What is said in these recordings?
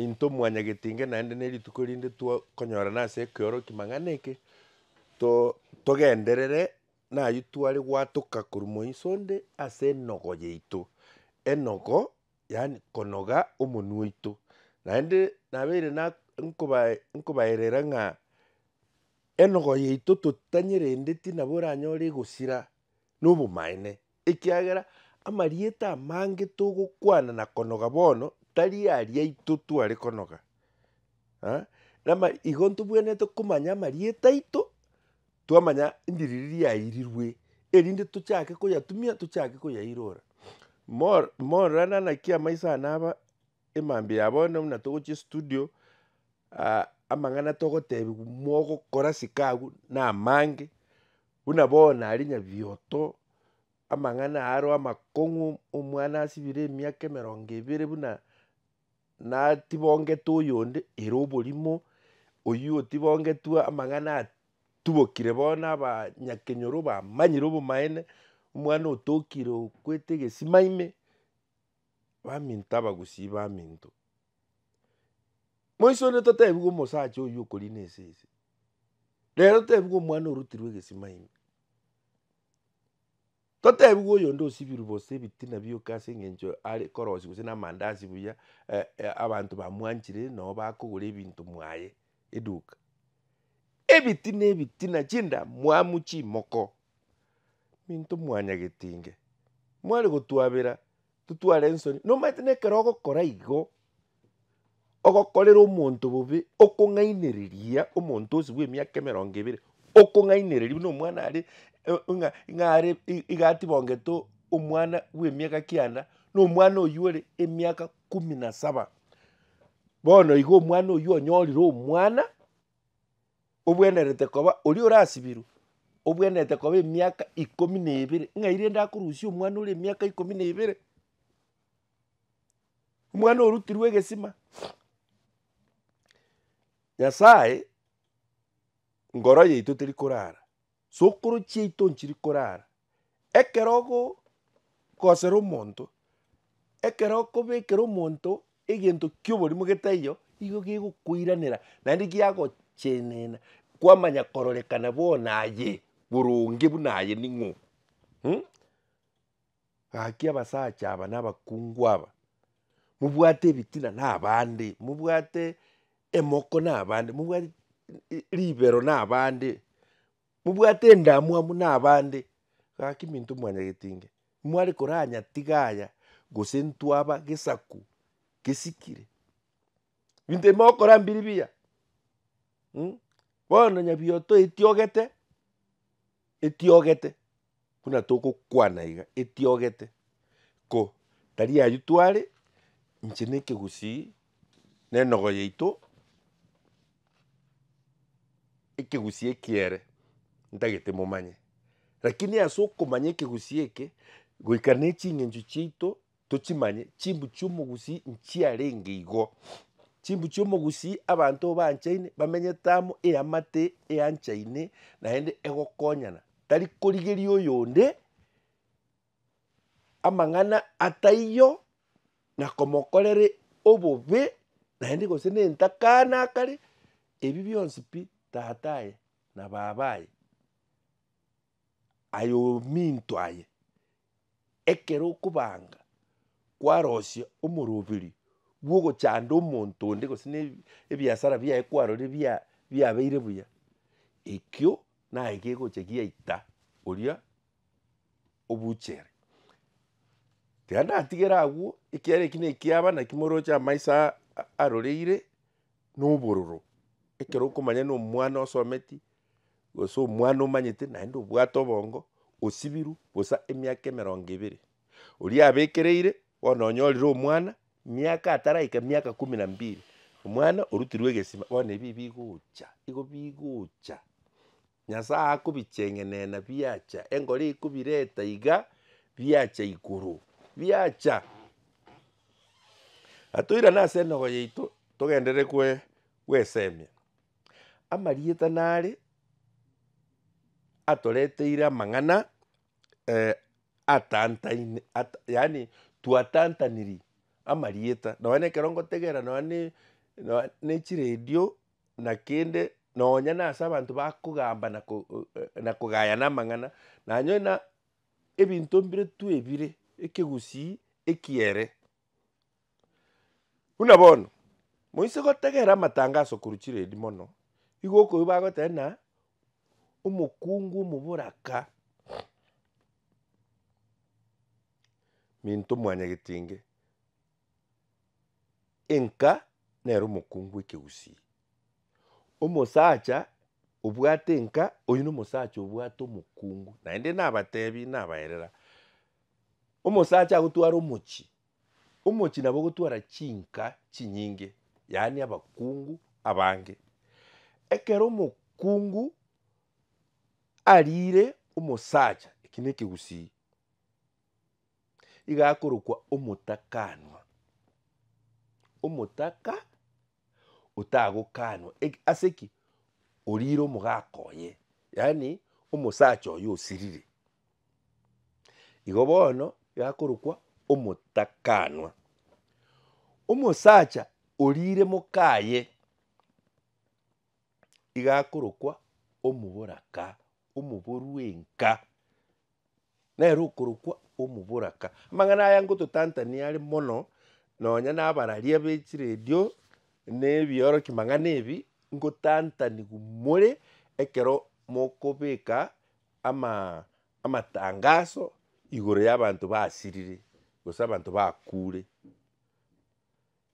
Intwe mwanyagetinge naende nerituko rinde twakonyorana ase ekeoroki mang'ana eke, to togenderere nayio tware gwatoka korwa moiso onde ase enogo yaito, enogo yaani konoga omonwe oito. Naende nabeire na nkoba nkobaerera ng'a enogo yaito totanye rende tinabo oranyore egosira na obomaene. Ekiagera amarieta amange togokwana na konoga bono tari aria aito tware konoga. Nama igo ntobwenerete komanya amarieta aito, twamanya ndiri riria yairirwe, erinde tochake koyatumia, tochake koyairora. Morana naki amaiso ane aba emambia ya bono buna togochia estudio, amang'ana togotebiwa mogokora sikagu namange, Buna bono aria nyabioto amang'ana aro amakong'u omwana asibire emiaka emerongo ebere buna natibongete oyonde ere oborimo, oyio otibogetwe amang'ana atubokire bono abanyakenyoro bamanyire obomaene, omwana otokire okwete egesima ime, baminto abagusi baminto. Moiso onde totebigwe omosacha oyio okorina esese. Rero totebigwe omwana orotirwe egesima ime. Totebigwe oyonde osibirwe gose ebitina bioka ase eng'encho are korosia gose na amandazi buya abanto bamwanchire noo bakogora ebinto mwaye eduka. Ebitina ebitina chindamwamu chimoko. Minto mwanyagete inge. Mware gotuabera. Totware ensoni. Nomanyete nekero ogokora igo, ogokorera omonto bobe, okong'ainereria omonto ose bw'emiaka emerongo ebere, okong'ainereria buna omwana are ng'a ng'a are iga atibongete omwana bw'emiaka kianda, na omwana oywo ore emiaka kumi na saba. Bono igo omwana oywo onyorire omwana, obwenerete koba oria orasibirwe, obwenerete koba emiaka ikomi na ebere, ng'ai rende akorusia omwana ore emiaka ikomi na ebere? Omwana orutirwe egesima. Nyasaye, ngoro yaito teri korara. Tsokoro chiaito nchiri korara. Ekero okogosera omonto, ekero okobekera omonto egento ki'oborimo getaiyo, igo gegokoiranera naende giagochenena kwamanya kororekana bono aye boronge buna aye ning'o? Gaki abasacha aba na abakungu aba, mobwate ebitina na abande, mobwate emoko na abande, mobwate ribero na abande, mobwate endamwamu na abande, gaki minto mwanyagete inga, mware koranyatiga aya gose ntwaba gesaku gesikire. Ebinto ebi mogokora mbiri mbiya, bono nyabiotoeti ogete. Etiogete, buna togokwana iga, etiogete, ko tari aywo tware, inche na ekegusii na enogo yaito, ekegusii eki ere ntagete momanye. Lakini ase okomanya ekegusii eke, goika na eching'encho chiaito, Tochimanye chimbu chi'omogusii nchiarenge igo. Chimbu chi'omogusii abanto baanchaine, bamenyete amo, eamate eanchaine naende egokonyana, tari korigeria oyonde amang'ana ataiyo na komokorera obobe naende gose na entakana akare, ebi bionsi pi tata aye na baba aye, aye ominto aye. ekero okobanga kwarosia omoroberi bw'ogochanda omonto onde gose na ebi- ebiasara biaye kwarorire bia- biabeire buya, ekio naye gegocha giaita oria obuchere. Tiga natigere agwo, ekiagera eki na ekiaba naki moroche amaiso aa- a- aroreire na obororo, ekero okomanya na omwana osometi, Gose omwana omanyete naende obwate obongo osibirwe bosa emiaka emerongo ebere. Oria abekereire bono onyorire omwana miaka ataraika miaka kumi na mbili omwana orutirwe egesima bono ebi bigocha igo bigocha Nyasaye akobicheng'enena biacha engori ekobireta iga biacha igoro biacha. Atoirane ase enogo yaito togenderere goe goesemia. Amarieta nare atoreteire amang'ana atantaine ata yaani twatantanirie amarieta nonya na ekero ngotegera nonya ne nonya ne chiredio na kende nonya na ase abanto bakogamba na ko na kogayana amang'ana nanyoe na ebinto mbire twebire ekegusii ekiere. Buna bono, moise gotegerera amatangaso korwa chiredio mono, igo okoigwa bagoteba ng'a omokungu omoboraka Minto Mwanyagetinge, enka nere omokungu bw'ekegusii. Omosacha obwate enka, oyio nomosacha obwate omokungu. Naende nabatebi nabaerera, omosacha agotwara omochie, omochie nabo ogotwara chinka chinyinge, yaani abakungu abange. Ekero omokungu arire omosacha, eki ne ekegusii, iga akorokwa omotakaanwa, omotaka. otagokaanwa. Eki, ase ki? Oriire omogaka oye, yaani omosacha oye osirire. Igo bono yakorokwa omotakanwa. Omosacha oriire mokaye igakorokwa omoboraka, omoboru enka. Nere okorokwa Omoboraka. Amang'ana aya ngototantania are mono nonya nabararia be chiredio na ebiorokia mang'ana ebi, ngotantanigwa more ekero mokobeka ama- amatangaso igoro y'abanto basirire gose abanto bakure.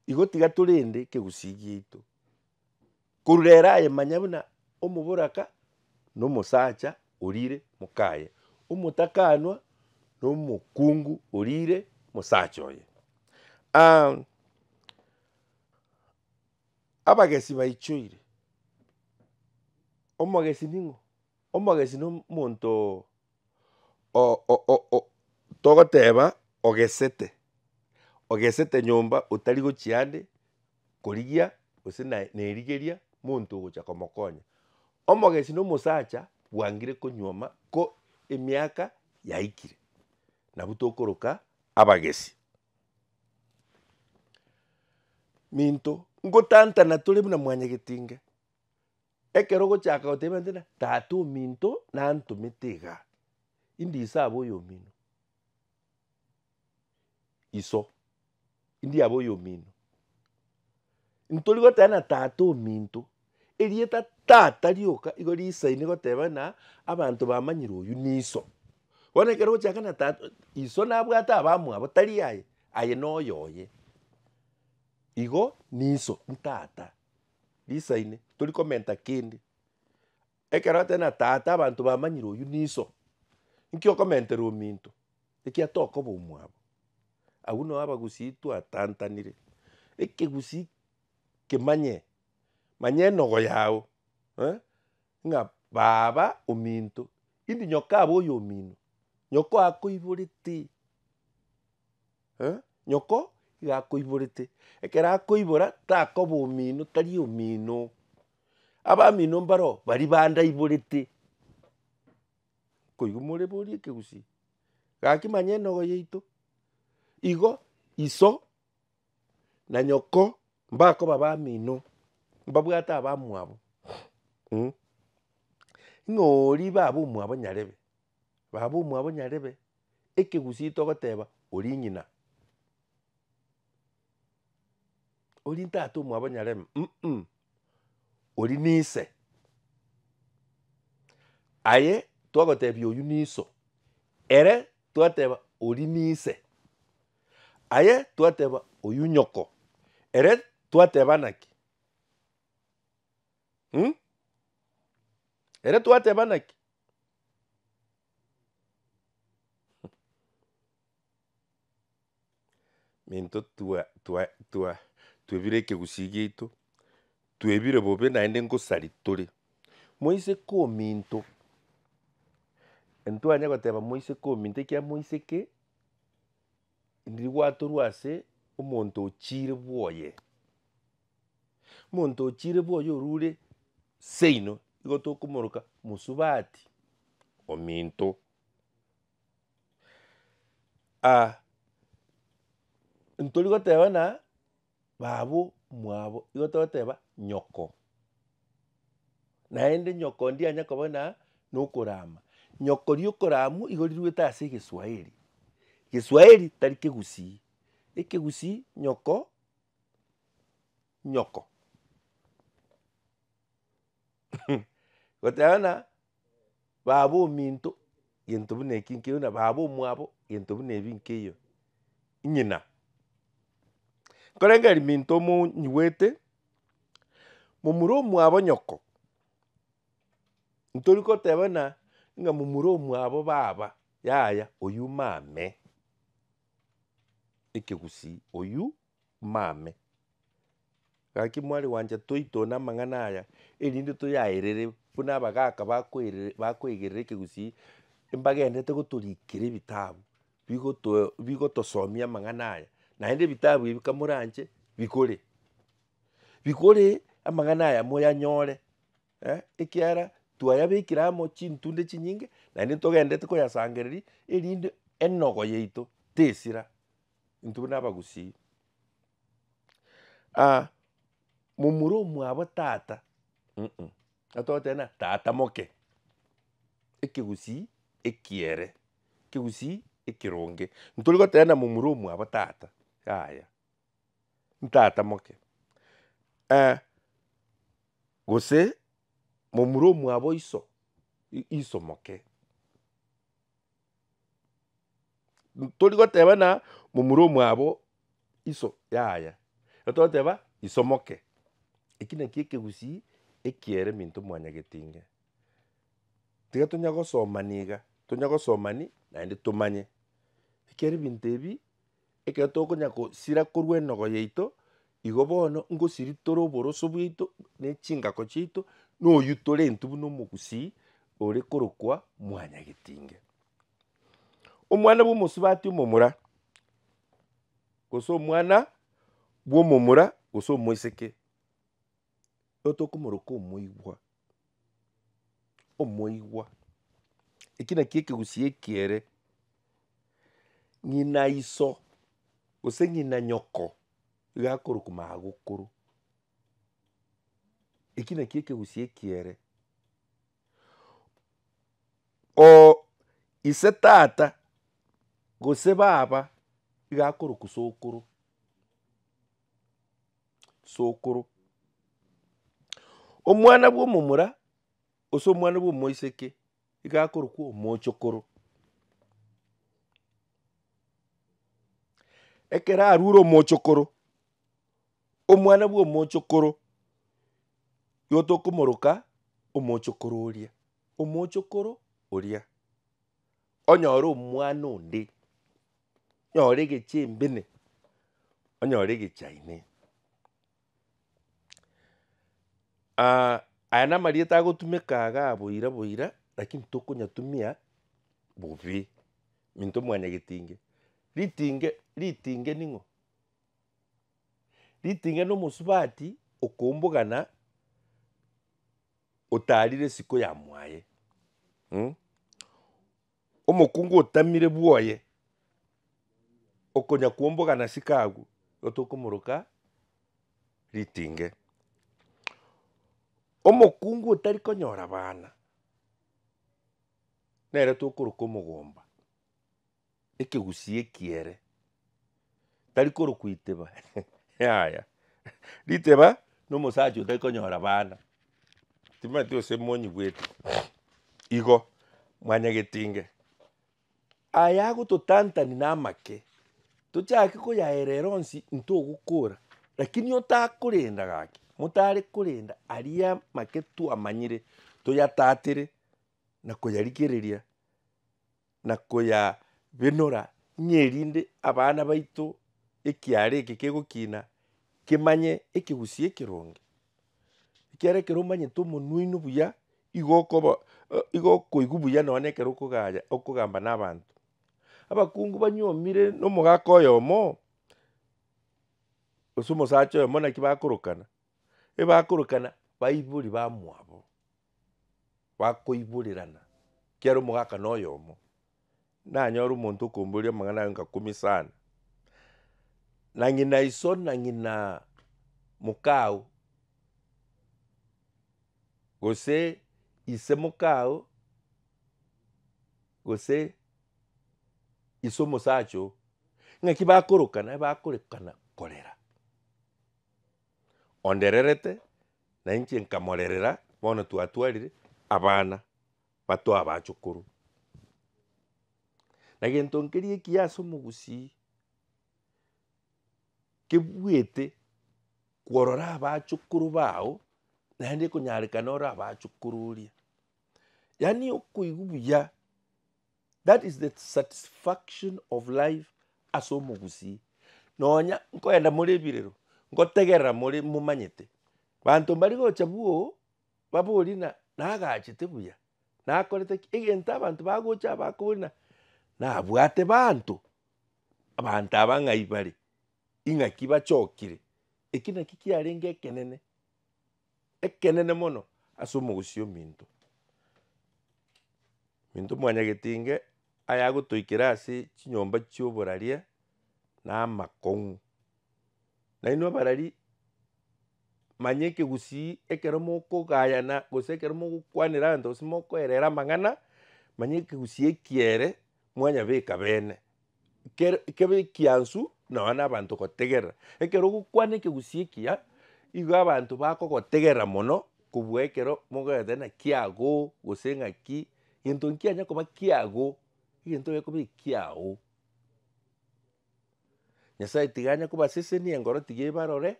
Igo tiga torende ekegusii giaito korwa ere aye manya buna omoboraka na omosacha orire mokaye, omotakanwa na omokungu orire mosacha oye. abagesi baichoire, omogesi ning'o? Omogesi nomonto. togoteba ogesete, ogesete nyomba otari gochia ande korigia gose naye nerigeria monto ogocha komokonya. Omogesi na omosacha bwangire konyuoma ko emiaka yaikire, nabwo tokoroka abagesi. Minto ngotantana tore buna mwanyagetinge. Ekero ogochaka goteba ng'a tata ominto nantomete iga, indisabe oyomino, iso indiabe oyomino. Ntori goteba ng'a tata ominto, erieta tata rioka nigo risaine goteba ng'a abanto bamanyire oyio niso. Bono ekero ogochaka ng'a tata iso nabwate abamwabo tari aye, aye noyo oye. Igo niso, ntata. risaine tori komenta kende. Ekero atari na tata abanto bamanyire oywo niso. Inki okomentera ominto ekiagera tokoba omwabo. Agwo nao abagusii twatantanire. Ekegusii kemanye manya enogo yao eh ng'a baba ominto indi nyoko abe oyomino. Nyoko akoiborete. eh, nyoko iga akoiborete, ekero akoibora takoba omino tari omino. Abamino mbaroo baria bandaiborete, koigwa more borie ekegusii, gaki manya enogo yaito, igo iso na nyoko mbakoba abamino, mbabwate abamwabo, mh. Ng'a oria ibabe omwabo nyarebe. Baba omwabo nyarebe ekegusii togoteba orii ng'ina. Orii ntata omwabo nyarebe um orii nise. Aye twagotebia oywo niso, ere twateba orii nise. Aye twateba oywo nyoko, ere twateba naki? um ere twateba naki? Minto twa- twa- twa- twebire ekegusii giaito, twebire bobe naende ngosari tore, moiseke ominto, ntwanye goteba moiseke ominto ekiagera moiseke. Ndirigwatorwa ase omonto ochiire bwoye. Omonto ochiire bwoye orure seino nigo tokomoroka mosubati ominto. ntorigoteba ng'a Babu mwabo, igo togoteba nyoko. Naende nyoko ndie anya koba na nokorama. Nyoko riokoramu igo riruete ase egeswahili. Geswahili tari kegusii. Ekegusii nyoko nyoko. goteba buna baba ominto gento buna eki nkeiyo na baba omwabo gento buna ebi nkeiyo ng'ina. Nkorengeri minto monyiwete momura omwabo nyoko ntori goteba buna ng'a momura omwabo baba yaya oywo mame ekegusii oywo. Mame, gaki mwari gwancha toitwe namang'ana aya, erinde toyaerere buna abagaka bakoerere bakoegerera ekegusii, mbagenderete gotorikera ebitabu bigotoe bigotosomia amang'ana aya, naende ebitabu ebi kamoranche bikore, bikore amang'ana aya moyanyore ekiara twayabekire amo chintunde chinyinge naende togenderete koyasangereria erinde enogo yaito tesira. Intwe buna abagusii ah momura omwabo tata uh-uh atogoteebia tata moke, ekegusii ekiere, ekegusii ekeronge. Ntori goteebia momura omwabo tata, yaya ntata moke gose momura omwabo iso, iso moke. Tori goteba ng'a momura omwabo iso yaya, ekero togoteba iso moke. Eki nakio ekegusii ekiere minto mwanyagete inga. Tiga tonya gosomania iga, tonya gosomani naende tomanye. Ekiagera ebinto ebi. Ekero tokonya gosira korwa enogo yaito, igo bono ngosiria tore oboroso bwaito, na echingako chiaito, na oyio torentwe buna omogusii ore korokwa mwanyagetinge. Omwana bwa omosubati omomura, gose omwana bwa omomura gose omoiseke. otokomoroka omoigwa, omoigwa, ekio nakio ekegusii ekiere, ng'ina iso gose ng'ina nyoko iga akorokwa magokoro, ekio nakio ekegusii ekiere, ooh ise tata gose baba iga akorokwa sokoro. Sokoro. Omwana bwa omomura gose omwana bwa omoiseke nigo akorokwa omochokoro. Ekero arure omochokoro, omwana bwa omochokoro nigo tokomoroka omochokoro oria. Omochokoro oria onyore omwana onde. onyore egechembene, onyore egechaine. aya namarieta agotumeka iga boira boira, lakini tokonyatumia bobe, minto mwane getinge. Ritinge ritinge ning'o? Ritinge na omosubati okombogana otarire isiko ya mwaye. Omokungu otamire bwoye okonya kwomboga na siko agwo nigo tokomoroka ritinge. Omokungu otari konyora abana nere tokoroka omogomba, ekegusii ekiere. tari korokwa iteba yaya. Riteba na omosacha otari konyora bana, timanyeti gose monyigwete igo mwanyagetinge. Aya agototantani na amake, tochake koyaerera onsi ntogokora, lakini otakorenda gaki, motare korenda aria amake twamanyire toyatatere na koyarigereria. na koyabenora, ng'a erinde abana baito ekiara eke kegokina kemanye ekegusii ekeronge. Ekiagera ekero omanyete omonwe oino buya, igo okoba igo okoigwa buya nonye na ekero okogaya okogamba na abanto. Abakungu banyomire na omogaka oyomo, gose omosacha oyomo naki bakorokana, ebakorokana baibori bamwabo, bakoiborerana, kiaro omogaka noyomo, nanyore omonto okomboria amang'ana aye onga kumi sana, na ng'ina iso na ng'ina mokao, gose ise mokao, gose ise omosacha oo, ng'aki bakorokana bakorekana korera. Ondererete, na inche nkamorerera, bono twatwarire abana batoo abachukuru. Na gento nkeria ekiya ase omogusii, kebuete kworora abachukuru bao, naende ekonyarekana ore abachukuru oria. Yaani okoigwa buya. That is the satisfaction of life ase omogusii. Nonya nkoenda more ebirero, ngotegerera more momanyete. Banto mbari gocha bwoo, babori na nagachete buya, nakorete ki, egento abanto bagocha aba bakobori na nabwate banto, abanto aba ng'ai bare, ing'aki bachokire. Eki naki kiarenge ekenene. ekenene mono ase omogusii ominto. Minto mwanyagetinge aya agotoikera ase chinyomba chia oboraria na amakong'u. Nainwe abarari manya ekegusii ekero mokogayana gose ekero mogokwanera abanto gose mokoerera amang'ana manya ekegusii ekiere. mwanyabeka beene, kere kebe ekiansu nonya na abanto gotegerera. Ekero ogokwana ekegusii ekiya, igo abanto bakogotegerera mono kobua ekero mogoeta naki agoo gose ng'aki, gento nkianya koba kiagoo, egento egio ekoba ekiago. Nyasaye tiga anye kobasesenia engoro tiga ebarore,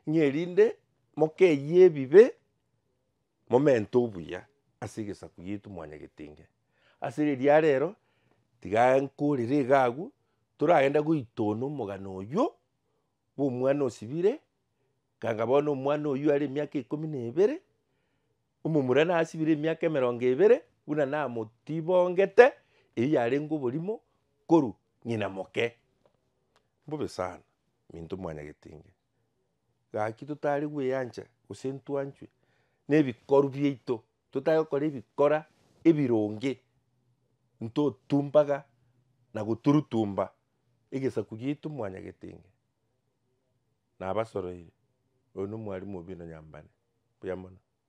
ng'a erinde mokeyie ebibe, momente obuya ase egesaku giaito mwanyagetenge. Ase riria rero, tiga nkorere iga agwo, toragende goitona omogano oywo, bwa omwana osibire, kanga bono omwana oywo are emiaka ikomi na ebere, omomura nasibire emiaka emerongo ebere, buna namotibongete, eyio yarenge oborimo korwa ng'ina moke. Mbobe sana, minto mwanyagetinge, gaki totari gweancha, gose ntwanchwe, na ebikoru biaito. Totare gokora ebikora ebironge, ntotumpaga na goturutumba egesaku giaitu mwanyagetenge. Nabasoroire, oyo nomwarimu obi nonyambane. Mbuya mono.